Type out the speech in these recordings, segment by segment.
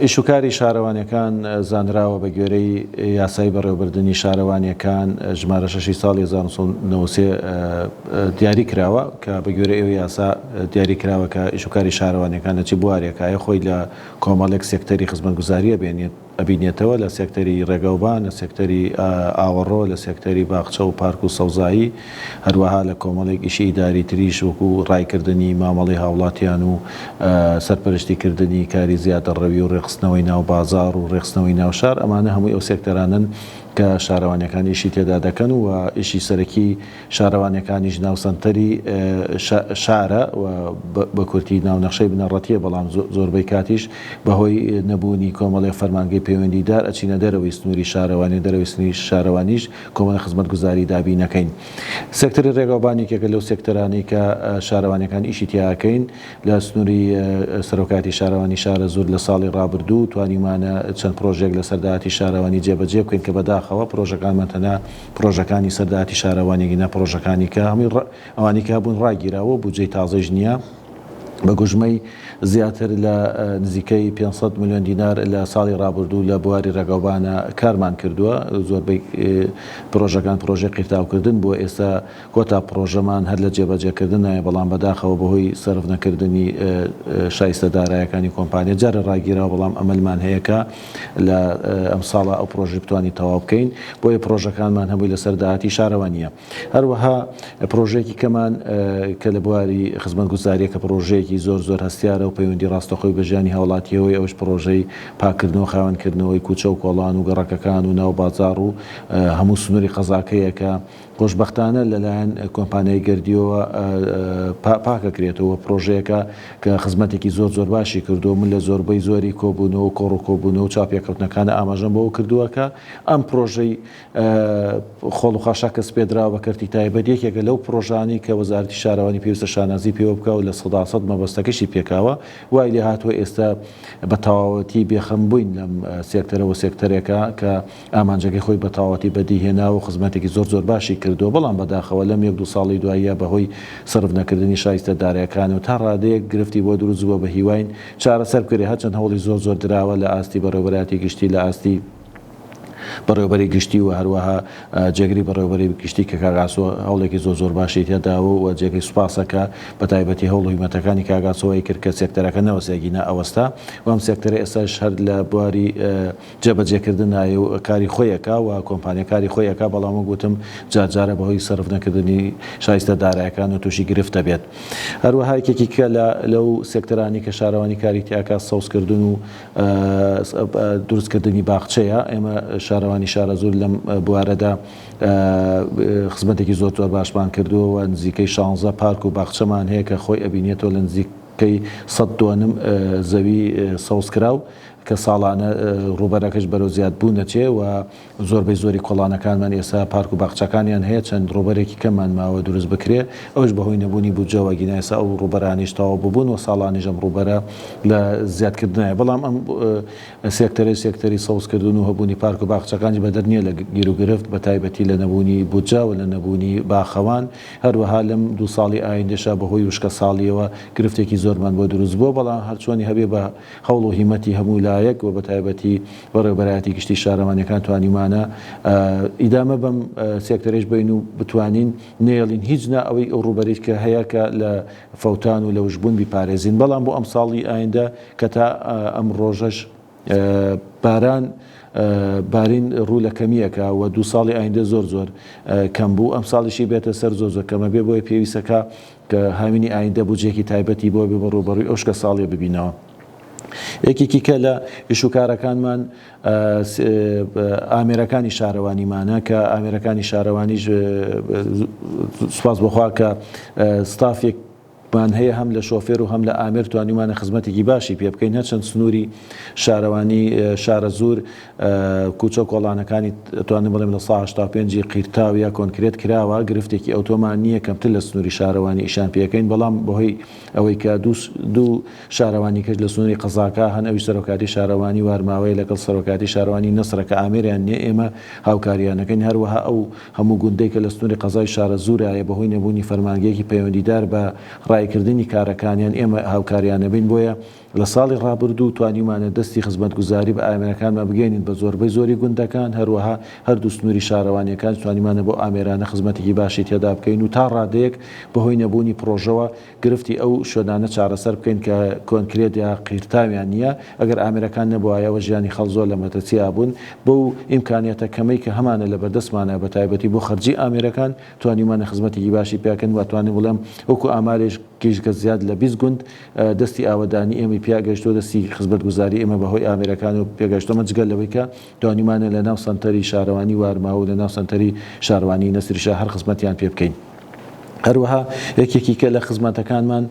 ئیشوکاری شارەوانیەکان زانراوە بە گوێرەی یاسای بەڕێوبردننی شارەوانیەکان ژمارە شەشی ساڵی 1990 دیاری کراوە کە بە گوێرە ئێوە یاسا دیاری کراوە کە ئیشوکاری شارەوانیەکان لە چی بوارێکایە خۆی لە کۆمەڵێک سێکتەری خزمەتگوزاری ئەبێنێت، ئەبینێتەوە لە سێکتەری ڕێگەوبان، لە سێکتەری ئاوەڕۆ، لە سێکتەری باخچە و پارک و سەوزایی، هەروەها لە کۆمەڵێک ئیشی ئیداری تریش وەکوو ڕایکردنی مامەڵەی هاوڵاتیان و سەرپەرشتی کردنی کاری زیادەڕەوی و ڕێکخستنەوەی ناو بازاڕ و ڕێکخستنەوەی ناو شار، ئەمانە هەمووی ئەو سێکتەرانەن کە شارەوانیەکان ئیشی تێدا دەکەن و ئیشی سەرەکی. شارەوانیەکانیش ناوسەنتەری شارە و بە کورتی ناونەخشەی بنەڕەتیە بەڵام زۆربەی کاتیش بە هۆی نەبوونی کۆمەڵێ فەرمانگەی پەیوەندی دار ئەچینە دەرەوەی سنوری شارەوانی و دەرەوەی سنوری شارەوانیش کۆمەڵێ خزمەتگوزاری دابین نەکەین. سێکتەری ڕێگاوبان یەکێکە لەو سێکتەرانەی کە شارەوانیەکان ئیشی تیا ئەکەین لە سنوری سەرۆکایەتی شارەوانی شارەزوور لە ساڵی ڕابردوو توانیومانە چەند پڕۆژەیەک لەسەر داهاتی شارەوانی جێبەجێ بکەین کە بەداخەوە پڕۆژەکانمان تەنها پرۆژەکانی سەر داهاتی شارەوانی گینا پرۆژەکانی کە هەمووی ڕ ئەوانی کە هەبوون ڕاگیراوە بودجەی تازەیش نییە بە گوژمەی زیاتر لە نزیکەی پێنج سەد ملیۆن دینار لە ساڵی ڕابردوو لە بواری ڕێگاوبانە کارمان کردووە زۆربەی پرۆژەکان پرۆژەی قیرتاوکردن بووە ئێستا کۆتا پرۆژەمان هەر لە جێبەجێکردنایە بەڵام بەداخەوە بەهۆی سەرف نەکردنی شایستە دارایەکانی کۆمپانیا جارێ ڕاگیراوە بەڵام ئەمەلمان هەیە کە لە ئەم ساڵە ئەو پرۆژەی بتوانین تەواو بکەین بۆیە پرۆژەکانمان هەمووی لەسەر داهاتی شارەوانیە هەروەها پرۆژەیەکی کەمان کە لە بواری خزمەت گوزاریە کە پرۆژەیەکی زۆر زۆر هەستیارە و پەیوەندی ڕاستەخۆی بە ژیانی هاوڵاتیەوەی ئەوش پرۆژەی پاکردنەوە خاوێنکردنەوەی کوچە و کۆڵان و گەڕەکەکان و ناو بازاڕ و هەموو سنوری قەزاکەیە کە خۆشبەختانە لەلایەن کۆمپانیای گەردیۆوە پاکەکرێتەوە و پرۆژەیەکە کە خزمەتێکی زۆر زۆر باشی کردووە و من لە زۆربەی زۆری کۆبوونەوە و کۆڕ و کۆبوونەوە و چاوپێکەوتنەکانا ئاماژەم بەوە کردووە کە ئەم پرۆژەی خۆڵ و خاشاک کە سپێردراوە بە کەرتی تایبەت یەکێکە لەو پرۆژانەی کە وەزارەتی شارەوانی پێویستە شانازی پێوە بکا و لە سەدا سەد مەبەستەکەشی پێکاوە وای لێهاتووە ئێستە بە تەواوەتی بێخەم بووین لەم سێکتەرە وە سێکتەرێکە کە ئامانجەکەی خۆی بەتەواوەتی بەدیهێناوە و خزمەتێکی زۆر زۆر باشی کردووە، بەڵام بەداخەوە لەم یەک دوو ساڵەی دواییە بەهۆی سەرف نەکردنی شایستە دارایەکان و تا ڕادەیەک گرفتی بۆ دروست بووە بەهیواین چارەسەر بکرێت هەرچەند هەوڵی زۆر زۆر دراوە لە ئاستی بەڕێوەبەرایەتی گشتی لە ئاستی بەڕێوەبەری گشتی و هەروەها جێگری بەڕێوەبەری گشتی کە کاک ئاسۆ هەوڵێکی زۆر زۆر باشی تێداوە و جێگەی سوپاسە کە بەتایبەتی هەوڵ و هیمەتەکانی کاک ئاسۆ وای کرد کە سێکتەرەکە نەوەستێ ئەگینا ئەوەستا و ئەم سێکتەرە ئێستاش هەر لە بواری جێبەجێکردن نایە و کاری خۆی ئەکا و کۆمپانیا کاری خۆی ئەکا، بەڵام وەک وتم جار جارە بەهۆی سەرف نەکردنی شایستە دارایەکان و تووشی گرفت ئەبێت. هەروەها یەکێکی کە لە لەو سێکتەرانەی کە شارەوانی کاری تیا ئەکا سەوزکردن و دروست کردنی باخچەیە، ئێمە شارەوانی شارەزوور لەم بوارەدا خزمەتێکی زۆر زۆر باشمان کردووە و نزیکەی شانزە پارک و باخچەمان هەیە کە خۆی ئەبینێتەوە لە نزیکەی سەد دۆنم زەوی سەوزکراو کە ساڵانە ڕووبەرەکەش بەرەو زیادبوون ئەچێ و زۆربەی زۆری کۆڵانەکانمان ئێستا پارک و باخچەکانیان هەیە، چەند ڕووبەرێکی کەممان ماوە دروست بکرێ، ئەوەش بەهۆی نەبوونی بودجەوە، ئەگینا ئێستا ئەو ڕووبەرانەیش تەواو ببوون و ساڵانیش ئەم ڕووبەرە لە زیادکردنایە، بەڵام ئەم سێکتەرەی سێکتەری سەوزکردن و هەبوونی پارک و باخچەکانیش بەدەر نییە لە گیروگرفت، بەتایبەتی لە نەبوونی بودجە و لە نەبوونی باخەوان، هەروەها لەم دوو ساڵی ئایندەشا بەهۆی وشکەساڵییەوە گرفتێکی زۆرمان بۆ دروست بووە، بەڵام هەرچۆنی هەبێ بە. هەوڵ و هیمەتی هەموو لایەک و بەتایبەتی بەڕێوەبەرایەتی گشتی شارەوانیەکان توانیمانە ئیدامە بەم سێکتەرەیش بەین و بتوانین نێڵین هیچ نا ئەوەی ئەو ڕووبەریت کە هەیە کە لە فەوتان و لەوشبوون بیپارێزین بەڵام بۆ ئەم ساڵی ئایندە کە تا ئەم ڕۆژەش باران بارین ڕوو لە کەمیەکە و دوو ساڵی ئایندە زۆر زۆر کەم بوو ئەم ساڵیشی بێتە سەر زۆر زۆر کەمە بێ بۆیە پێویستەکە کە هاوینی ئایندە بودجەیەکی تایبەتی بۆ بێ و ڕووبەڕووی ئەو شکە ساڵیە ببینەوە. یەکێکی کە لە ئیش و کارەکانمان ئامێرەکانی شارەوانیمانە کە ئامێرەکانی شارەوانیش سوپاس بۆ خوا کە ستافێک مان هەیە هەم لە شۆفێر و هەم لە ئامێر توانیومانە خزمەتێکی باشی پێ بکەین هەرچەند سنووری شارەوانی شارەزوور کوچە و کۆڵانەکانی ئەتوانم بڵێم لە سەدا هەشتا و پێنج ی قیرتاو یا کۆنکرێت کراوە، گرفتێکی ئەوتۆمان نییە کەمتر لە سنووری شارەوانی ئیشان پێکەین، بەڵام بەهۆی ئەوەی کە دوو شارەوانی کەش لە سنووری قەزاکە هەن ئەوی سەرۆکاتی شارەوانی وارماوەیە لەگەڵ سەرۆکاتی شارەوانی نەسرە کە ئامێریان نییە ئێمە هاوکاریان ئەکەین، هەروەها ئەو هەموو گوندەی کە لە سنووری قەزای شارەزوورایە بەهۆی نەبوونی فەرمانگەیەکی پەیوەندیدار بە ڕاییکردنی کارەکانیان ئێمە هاوکاریان ئەبین بۆیە لە ساڵی ڕابردوو توانیومانە دەستی خزمەتگوزاری بە ئامێرەکانمان بگەیەنین بە زۆربەی زۆری گوندەکان، هەروەها هەردوو سنووری شارەوانییەکانیش توانیومانە بەو ئامێرانە خزمەتێکی باشی تێدا بکەین و تا ڕادەیەک بەهۆی نەبوونی پڕۆژەوە گرفتی ئەو شوێنانە چارەسەر بکەین کە کۆنکرێت یا قیرتاویان نییە، ئەگەر ئامێرەکان نەبوایەوە ژیانی خەڵک زۆر لە مەترسی ئابوون، بەو ئیمکانیاتە کەمەی کە هەمانە لە بەردەستمانە بە تایبەتی بۆ خەرجی ئامێرەکان توانیومانە خزمەتێکی باشی پێکەن و ئەتوانم بڵێم وەکو ئامارێک گیشتگە زیاد لە بیست گوند دەستی ئاوەدانی ئێمەی پیا گەشتووە دەستی خزمەتگوزاری ئێمە بە هۆی ئامێرەکانەوە پێگەشتووە ئەمە جگە لەوەی کە توانیومانە لە ناو سەنتەری شارەوانی وارماو و لە ناو سەنتەری شارەوانی نەسری شا هەر خزمەتیان پێ بکەین هەروەها یەکێکی کە لە خزمەتەکانمان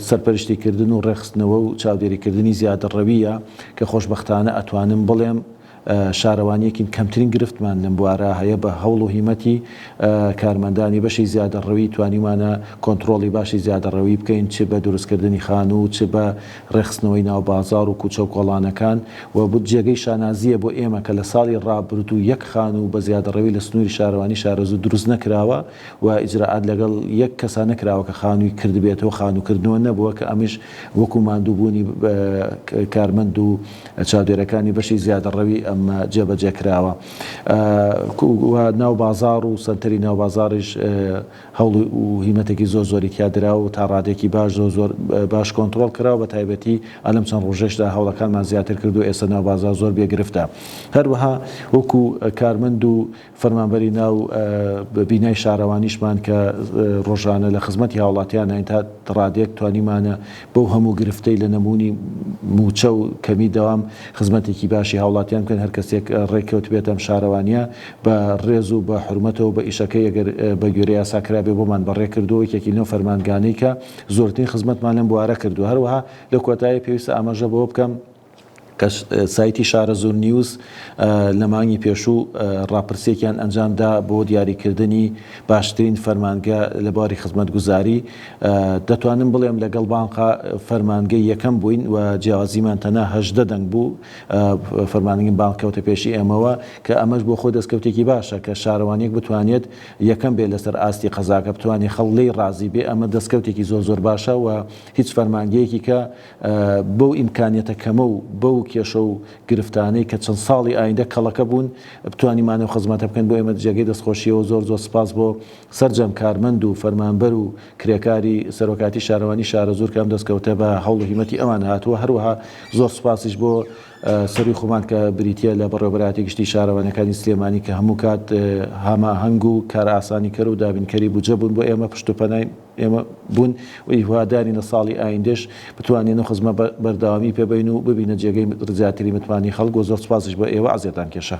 سەرپەرشتی کردن و ڕێخستنەوە و چاودێری کردنی زیادە ڕەویە کە خۆشببختانە ئەتوانم بڵێم شارەوانیەکین کەمترین گرفتمان لەم بوارە هەیە بە هەوڵ و هیمەتی کارمەندانی بەشی زیادەڕەوی توانیومانە کۆنتڕۆڵی باشی زیادەڕەوی بکەین چ بە دروستکردنی خانوو و چ بە ڕێخستنەوەی ناو بازاڕ و کوچە و کۆڵانەکان و بوت جێگەی شانازیە بۆ ئێمە کە لە ساڵی ڕابردوو یەک خانوو بە زیادەڕەوی لە سنوری شارەوانی شارەزوو دروست نەکراوە و ئیجرائات لەگەڵ یەک کەسا نەکراوە کە خانووی کردبێتەوە خانووکردنەوە نەبووە کە ئەمیش وەکو ماندووبوونی کارمەند و چاودێرەکانی بەشی زیادەڕەوی ئەم جێبەجێکراوە و ناو بازاڕ و سەنتەری ناو بازاڕیش هەوڵ و هیمەتێکی زۆر زۆری تیا درا و تا ڕادێکی باش زۆر زۆر باش کۆنتڕۆڵ کرا و بە تایبەتی ئەلەم چەند ڕۆژەیشدا هەوڵەکانمان زیاتر کرد و ئێستا ناو بازاڕ زۆر بێ گرفتە هەروەها وەکو کارمەند و فەرمانبەری ناو بینای شارەوانیشمان کە ڕۆژانە لە خزمەتی هاوڵاتیاناین تا ڕادەیەک توانیمانە بەو هەموو گرفتەی لە نەبوونی مووچە و کەمی دەوام خزمەتێکی باشی هاوڵاتیان بکەین هەر کەسێک ڕێککەوتبێت ئەم شارەوانیە بە ڕێز و بە حورمەتەوە بە ئیشەکەی ئەگەر بە گوێرەی یاسا کرابێ بۆمان بەڕێ کردووە یەکێکی لەو فەرمانگانەی کە زۆرترین خزمەتمان لەم بوارە کردووە هەروەها لە کۆتایی پێویستە ئاماژە بەوە بکەم کە سایتی شارەزوور نیوز لە مانگی پێشوو ڕاپرسیەکیان ئەنجامدا بۆ دیاریکردنی باشترین فەرمانگە لە بواری خزمەتگوزاری دەتوانم بڵێم لەگەڵ بانقا فەرمانگەی یەکەم بووین و جیاوازیمان تەنها هەژدە دەنگ بوو فەرمانگەی بانق کەوتە پێشی ئێمەوە کە ئەمەش بۆ خۆی دەستکەوتێکی باشە کە شارەوانیەک بتوانێت یەکەم بێت لەسەر ئاستی قەزاکە بتوانێت خەڵک لێی ڕازی بێت ئەمە دەستکەوتێکی زۆر زۆر باشە و هیچ فەرمانگەیەکی کە بەو ئیمکانیەتە کەمە و بەو کێشە و گرفتانەی کە چەند ساڵی ئایندە کەڵەکە بوون بتوانیمانێ و خزمەتە بکەین بۆ ئێمە جێگەی دەستخۆشیە و زۆر زۆر سپاس بۆ سەرجەم کارمەند و فەرمانبەر و کرێکاری سەرۆکاتی شارەوانی شارەزوور کە ئەم دەستکەوتە بە هەوڵ و هیمەتی ئەوان هاتووە هەروەها زۆر سپاسیش بۆ سەرووی خۆمان کە بریتیە لە بەڕێوەبەرایەتی گشتی شارەوانیەکانی سلێمانی کە هەموو کات هاماهەنگ و کارئاسانیکەر و دابینکەری بودجە بوون بۆ ئێمە پشت و پەنای ئێمە بوون و هیوادارین لە ساڵی ئایندەش بتوانین ئەو خزمە بەردەوامی پێ بەین و ببینە جێگەی زیاتری متمانەی خەڵک و زۆر سوپاسیش بۆ ئێوە عەزێتان کێشا.